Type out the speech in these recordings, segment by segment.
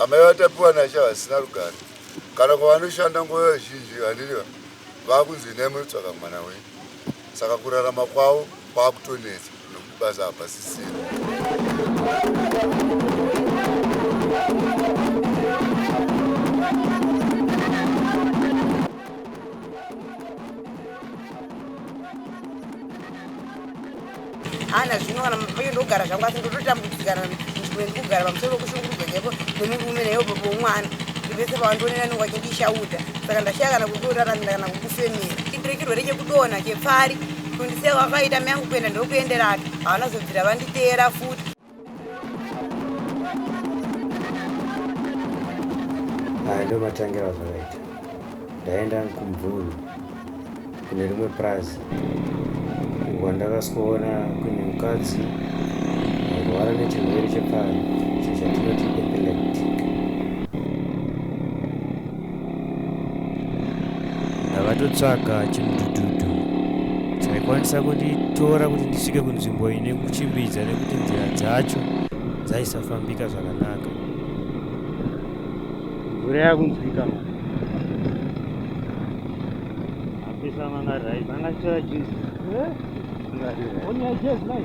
Amai vaTapiwa naSha vasina rugare kana kwavanoshanda nguva zhinji vanenge vakunzi endai munotsvaga mwana wenyu saka kurarama kwavo kwakutonetsa nokuti basa hapasisiri. hana zvino kana mapenge ndogara zvangu asi ndototambudzikana nzvimbo ndikugara pamusoro pokushungurudzwa chaipo nemurume nayo baba womwana ndivese pavandionera anenge achindishauta saka ndashaya kana kutoraramira kana kukufemera chindiri chirwere chekudonha chepfari kundisiya kwakaita miyangu kuenda ndokuenderake havana zobvira vanditeera futi ndo matangira zvakaita ndaenda kumvuru kune rimwe prazi uko ndakasikoona kune mukadzi airwara nechirwere chepfari chatinoti epileptic ndakatotsvaga chimudhudhudhu chaikwanisa kunditora kuti ndisvike kunzvimbo ine kuchimbidza nekuti nzira dzacho dzaisafambika zvakanaka mvura yakunzwika ma apisa mangarirai mangatora juzi eh? mangarirai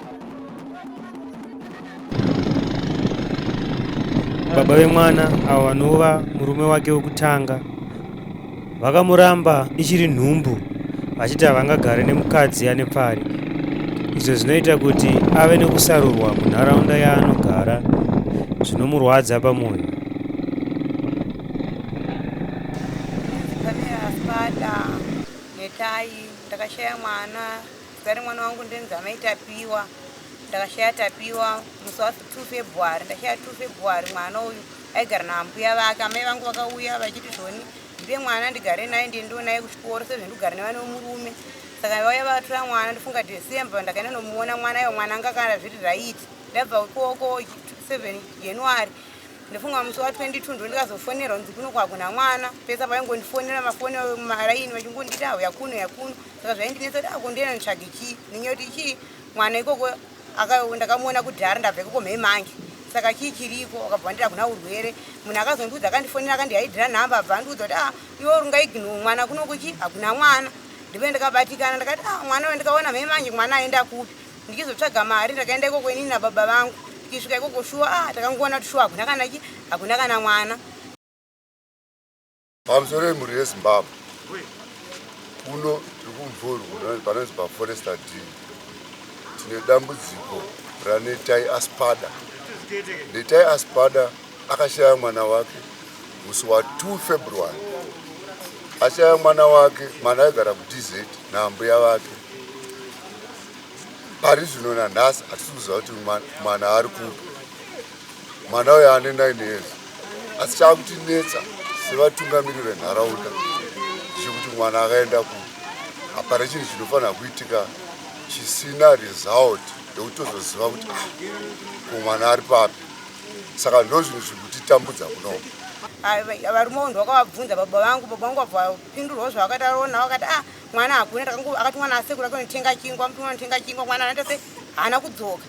baba vemwana avo vanova murume wake wekutanga vakamuramba ichiri nhumbu vachiti havangagare nemukadzi ane pfari izvo zvinoita kuti ave nekusarurwa munharaunda yaanogara zvinomurwadza pamwoyo ndakashaya mwana Zita remwana wangu ndinzi amai Tapiwa. Ndakashaya Tapiwa musi wa 2 February, ndashaya 2 February. Mwana uyu aigara naambuya vake, amai vangu vakauya vachiti zvoni ndipe mwana ndigare naye ndiye ndionaye kuchikoro sezvo ndikugara nevane wemurume. Saka vauya vatora mwana ndifunga December ndakaenda nomuona mwana iwo mwana anga kana zviri right. Ndabva ikoko 7 January ndofunga musi wa 22 ndo ndikazofonerwa ndzi kuno kwakuna mwana pesa vaingondifonera mafoni maraini vachingonditi auya kuno yakuno saka zvaindinetsa kuti akundienda ah, nditsvage chii ndinyaya kuti chii mwana ikoko ndakamuona kudhara ndabva ikoko mhei mange saka chii chiriko akabva andira kuna urwere munhu akazondiudza akandifonera akandihaidhira nhamba abva andiudza kuti ah iwe urungaigno mwana kunokuchi hakuna mwana ndive ndakabatikana ndakati ah mwana uyo ndikaona mhei manje mwana aenda kupi ndichizotsvaga mari ndakaenda ikoko inini nababa vangu tikisvika ikoko shuwa ah takangoona kuti shuwa hakuna kana chi hakuna kana mwana Pamusoro yemhuri yeZimbabwe kuno tiri kumvuru panonzi paforesta d tine dambudziko ranetai aspada netai aspada akashaya mwana wake musi wa 2 february ashaya mwana wake mwana aigara kudz naambuya vake pari zvino nanhasi hatisi kuziva kuti mwana ari kupi Mwana uyo ane 9 years asi chaakutinetsa sevatungamiri venharaunda chekuti mwana akaenda ku hapana chinhu chinofanira kuitika chisina result yekuti tozoziva kuti ah, ko mwana ari papi saka ndo zvinhu zviri kutitambudza kunoku varume vo ndwakavabvunza baba vangu baba vangu vabvapindurwa zvavakataona vakati a ah, mwana hakuna akati mwana asekura kunotenga chingwa mtu anotenga chingwa mwana anaita se haana kudzoka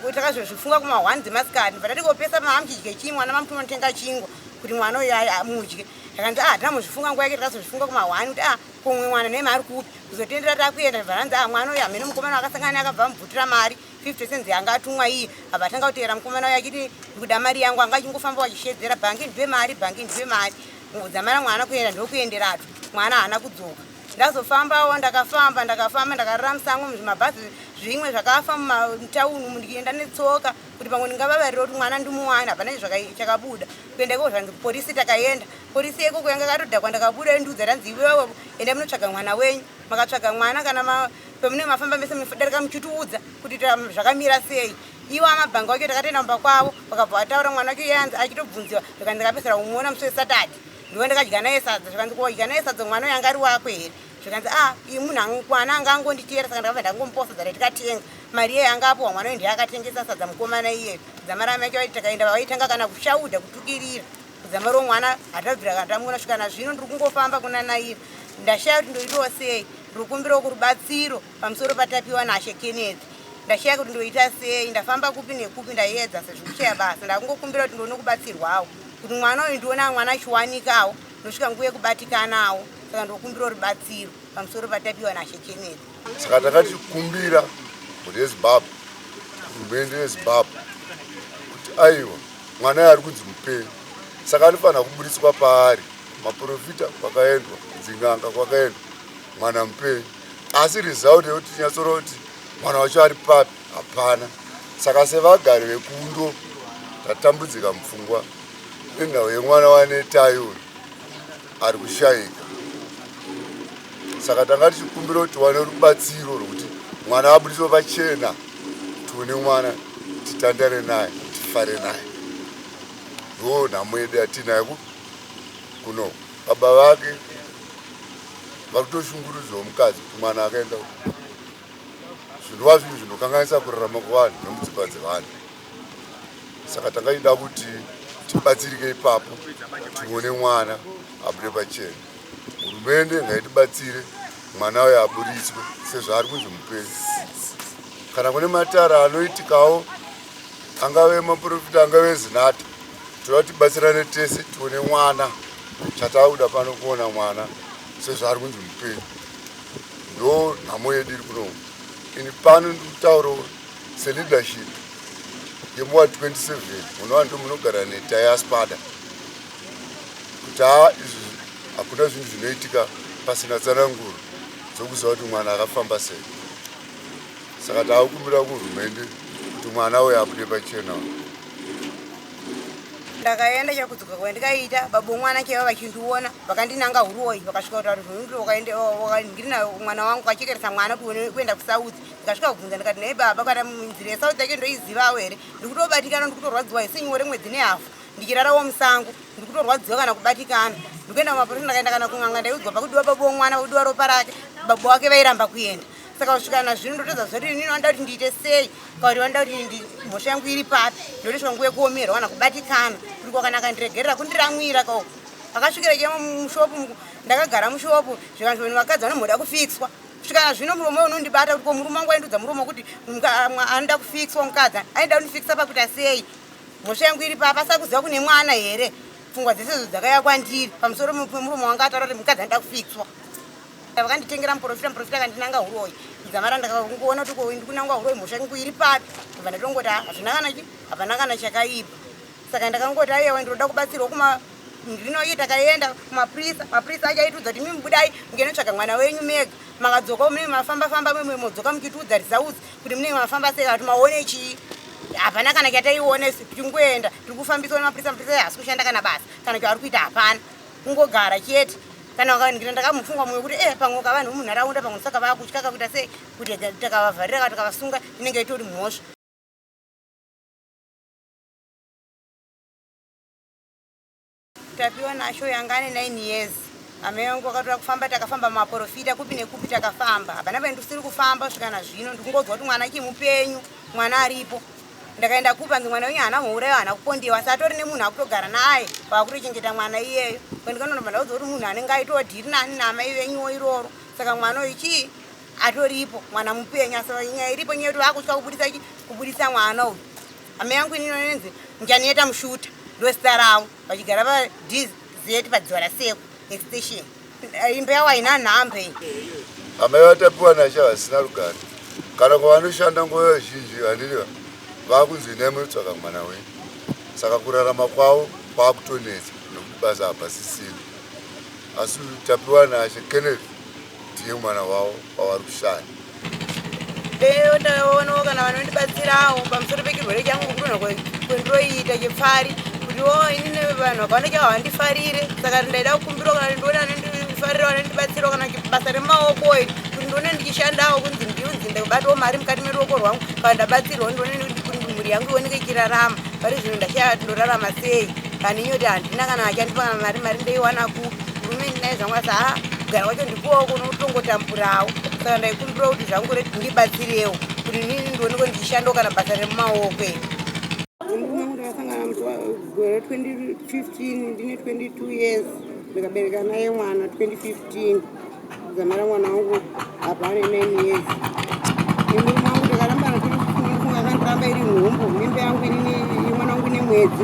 kuti takazozvifunga kuma one dzemasikati but ati kopesa maamudye chii mwana mamuti unotenga chingwa kuti mwana uyo amudye akanzi ah tina muzvifunga nguva yake takazozvifunga kuma one kuti ah kumwe mwana nemi ari kupi kuzotendera takuenda varanzi ah mwana uyo amene mukomana wakasangana akabva amubvutira mari fifty cents yanga atumwa iye abva atanga kuteera mukomana uyo achiti ndikuda mari yangu anga achingofamba wachishedzera bhangi ndipe mari bhangi ndipe mari nguvu dzamara mwana kuenda ndokuenderatu mwana haana kudzoka ndazofambawo ndakafamba ndakafamba ndakarara musango muzvimabhazi zvimwe zvakafa mumatauni umu ndikienda netsoka kuti pamwe ndingavavarira kuti mwana ndimuwana hapana chakabuda kuenda ikoko zvanzi kuporisi takaenda porisi yekoko yanga katodhakwa ndakabuda endiudza tanzi iwewe enda munotsvaga mwana wenyu makatsvaga mwana kana pamune mafamba mese munodarika muchitiudza kuti zvakamira sei iwo amabhanga wacho takatoenda mumba kwavo vakabva vataura mwana wacho yanzi achitobvunziwa ndikandikapesera kumuona musi wesatadhi ndiwe ndakadya naye sadza zvikanzi kodya naye sadza mwana uyo anga ari wako here zvikanzi a ah, i munhu mwana anga angonditiyera saka ndakabva ndangomposa dzara tikatenga mari iyeyo anga apuwa mwana uyo ndiye akatengesa sadza mukomana iyeyo zamarama yacho vaiti takaenda vavaitanga kana kushauda kutukirira kuzama ro mwana hatabvira kana tamuona svika na zvino ndiri kungofamba kuna nairi ndashaya kuti ndoitawo sei ndiri kumbirawo kurubatsiro Pamusoro paTapiwa naShe Kenneth, ndashaya kuti ndoita sei, ndafamba kupi nekupi ndaiedza sezvo kushaya basa. Ndakungokumbira kuti ndione kubatsirwawo kuti mwana uyu ndione mwana achiwanikawo ndosvika nguva yekubatikanawo saka ndokumbira rubatsiro pamusoro paTapiwa naShe Kenneth. Saka takati kumbira kuti yeZimbabwe hurumende yeZimbabwe kuti aiwa mwana yaari kunzi mupenyu saka anofanira kuburitswa paari maporofita kwakaendwa dzin'anga kwakaendwa mwana mupenyu asi result yekuti tinyatsora kuti mwana wacho ari papi hapana saka sevagari vekundo tatambudzika mupfungwa nenhau yemwana wanetai uyu ari kushayika saka tanga tichikumbira kuti wane rubatsiro rwekuti mwana abudiswe pachena tione mwana titandare naye tifare naye ndo nhamo yedu yatiinayo kunoku Baba vake vakutoshungurudzwa mukadzi kuti mwana akaenda zvinova zvinhu zvinokanganisa kurarama kwevanhu nemudzimba dzevanhu saka tangaida kuti tibatsirike ipapo tione mwana abude pachena hurumende ngaitibatsire mwana uyo aburitswe sezvaari kunzi mupenzi kana kune matara anoitikawo angave maprofita angave zinata toda kuti batsirane tese tione mwana chatakuda pano kuona mwana sezvaari kunzi mupenyu ndo nhamo yedu iri kuno ini pano ndikutauro seleadership yemuwa 27 unova ndo munogara netayaspada kuti haa izvi hakuna zvinhu zvinoitika pasina tsananguro dzokuziva kuti mwana akafamba sei saka taakumbira kuhurumende kuti mwana uyo abude pachena ndakaenda chakudzoka kwandikaita babo mwana chaiva vachindiona vakandinanga huroyi vakasvika kutaura kuti wakaenda wakandiri nayo mwana wangu kachekeresa mwana kuti kuenda kusauth ndikasvika kubvunza ndikati nei baba kana nzira yesauth yake ndoizivawo here ndikutobatikana ndikutorwadziwa hisenyore mwedzi nehafu ndichirarawo musango ndikutorwadziwa kana kubatikana ndikuenda kumaporisa ndakaenda kana kun'anga ndaiudzwa pakudiwa babo mwana kudiwa ropa rake babo wake vairamba kuenda saka kusvika nazvino ndotodza zoti inini vanoda kuti ndiite sei kauri vanoda kuti mhosva yangu iri papi ndotoiswa nguva yekuomerwa kana kubatikana kuti kwakanaka ndiregerera kundiramwira ka akasvikira chemo mushopu ndakagara mushopu zvikanzi vanhu vakadzi vanomhoda kufixwa kusvika nazvino muromo unondibata kuti ko murume wangu aindudza muromo kuti anoda kufixwa mukadzi aida kundifixa pakuita sei mhosva yangu iri papa sakuziva kune mwana here pfungwa dzese zo dzakaya kwandiri pamusoro pemuromo wanga ataura kuti mukadzi anoda kufixwa vakanditengera muprofita muprofita akandinanga huroyi dzamara ndakakuona kuti ko ndikunangwa huroyi mhosva yangu iri papi kubva ndakangoti ah, hazvina kana chi hapana kana chakaipa saka ndakangoti ayewa ndinoda kubatsirwa kuma ndinoyi takaenda kumaprisa maprisa achaitudza kuti mimi budai mukenotsvaga mwana wenyu mega makadzoka mimi mafamba famba mimi modzoka muchitiudza results kuti munenge mafamba sei kuti maone chii hapana kana kyataione kuti kungoenda tiri kufambiswa nemaprisa maprisa asi kushanda kana basa kana kyaari kuita hapana kungogara chete kana vakanikira ndakamufunga mumwe kuti e pamwe ukavanhu vemunharaunda pamwe saka vakutya kakuita sei kuti takavavharira ka takavasunga inenge itori mhosva tapiwa nasho yanga ane nine years amai vangu vakatora kufamba takafamba maporofita kupi nekupi takafamba hapana paindisiri kufamba svika na zvino ndikungonzwa kuti mwana chimupenyu mwana aripo ndakaenda kupa nge mwana wenyu haana mhourayo haana kupondiwa asi atori nemunhu akutogara naye vakutochengeta mwana iyeyo kwendikanonoba ndaudzo kuti munhu anenge aitodhiri nani namai venyuwo iroro saka mwana uyu chii atoripo mwana mupenyu asi nyaya iripo nyaya yoti vakutya kubudisa chi kubudisa mwana uyu hama yangu inino nenzi ndichanoita mushuta ndosita ravo vachigara padz padziva raseku extension Eh, imba yawo haina nhamba iyi amai vatapiwa nasha vasina rugare kana kwavanoshanda nguva zhinji vandiriva vakunzi inai munotsvaka mwana wenyu saka kurarama kwavo kwakutonetsa nokuti basa hapasisina asi tapiwa nashe kenneth ndiye mwana wavo wavari kushanda ndoonawo kana vanondibatsirawo pamusoro pechirwere changu kudonha kwendiroiita chepfari kuti wo inini vanhu vakawanda chavo vandifarire saka ndaida kukumbirawo kana ndione anondifarira vanondibatsirawo kana basa remaoko iri kuti ndione ndichishandawo kunzi ndiunzi ndakubatawo mari mukati meruoko rwangu kana ndabatsirwa ndione kuti mhuri yangu ioneke ichirarama pari zvino ndashaya kuti ndorarama sei kana inyoti handina kana achandipa kana mari mari ndoiwana ku hurumende naizvangwasa ha kugara kwacho ndi Kuwa uko unotongotamburawo saka ndaikumbira kuti zvangu reti ndibatsirewo kuti nini ndionekwe ndichishandawo kana basa remumaoko iri gore 2015 ndine 22 years ndikabereka naye mwana 2015 zamara mwana wangu apa ane 9 years imwe mwangu ndakarambana tiri kufunga kandiramba iri nhumbu mimba yangu inini mwana wangu nemwedzi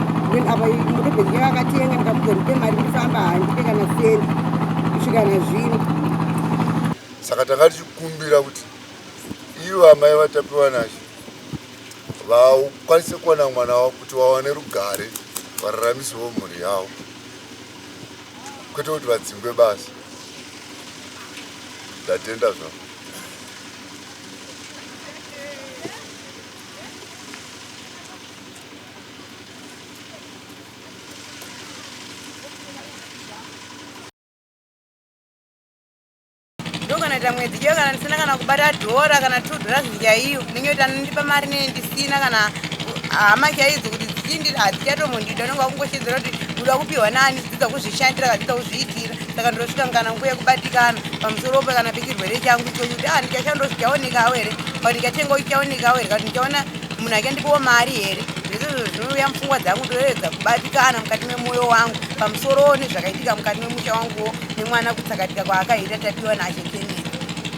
then apa mudebhezi yake akatenga ndikamuudza ndipe mari ndifamba handipe kana sendi kusvika na zvino saka tanga tichikumbira kuti ivo amai vatapiwa nazvo vakwanise kuwana mwana wavo kuti vawane rugare vararamisewo mhuri yavo kwete kuti vadzingwe basa ndatenda zvavo ndokanaita mwedzi iyo kana ndisina kana kubata dhora kana two dhora zvinjaiyo ndinenge kuti anondipa mari nene ndisina kana hama chaidzo kuti dzichindiri hadzichatombondida unenge wakungoshedzera kuti uda kupiwa nani dzidza kuzvishandira kadzidza kuzviitira saka ndosvika kana nguva yekubatikana pamusoro pe kana pechirwere changu ichokuti a ah, ndichashandiro zvichaonekawo here ka ndichatengawo chichaonekawo here ka ndichaona munhu ake ndikuwo mari here zvezvezvo zvinouya mupfungwa dzangu ndoedza kubatikana mukati memwoyo wangu pamusorowo nezvakaitika mukati memusha wanguwo nemwana kutsakatika kwaakaita tapiwa naashe kennedy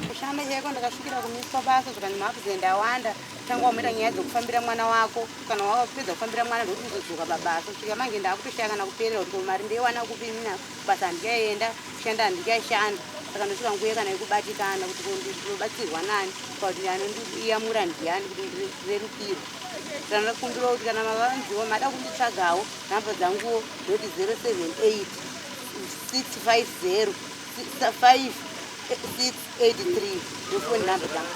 kushanda chaiko ndakasvikira kumiswa basa zvikanzi maakuzenda awanda tanga wamuita nyaya dzokufambira mwana wako kana wakapedza kufambira mwana ndokuti uzodzoka pabasa svika manje ndaakutoshaya kana kuperera kuti komari ndeiwana kupi nina basa handikaienda kushanda handikaishanda saka ndosvika nguya kana yekubatikana kuti ndinobatsirwa nani kuti anondiyamura ndiyani kuti ndirerukirwe kana ndakumbira kuti kana mavanziwo mada kunditsvagawo nhamba dzanguwo ndoti 078 650 5 683 ndofoni nhamba dzangu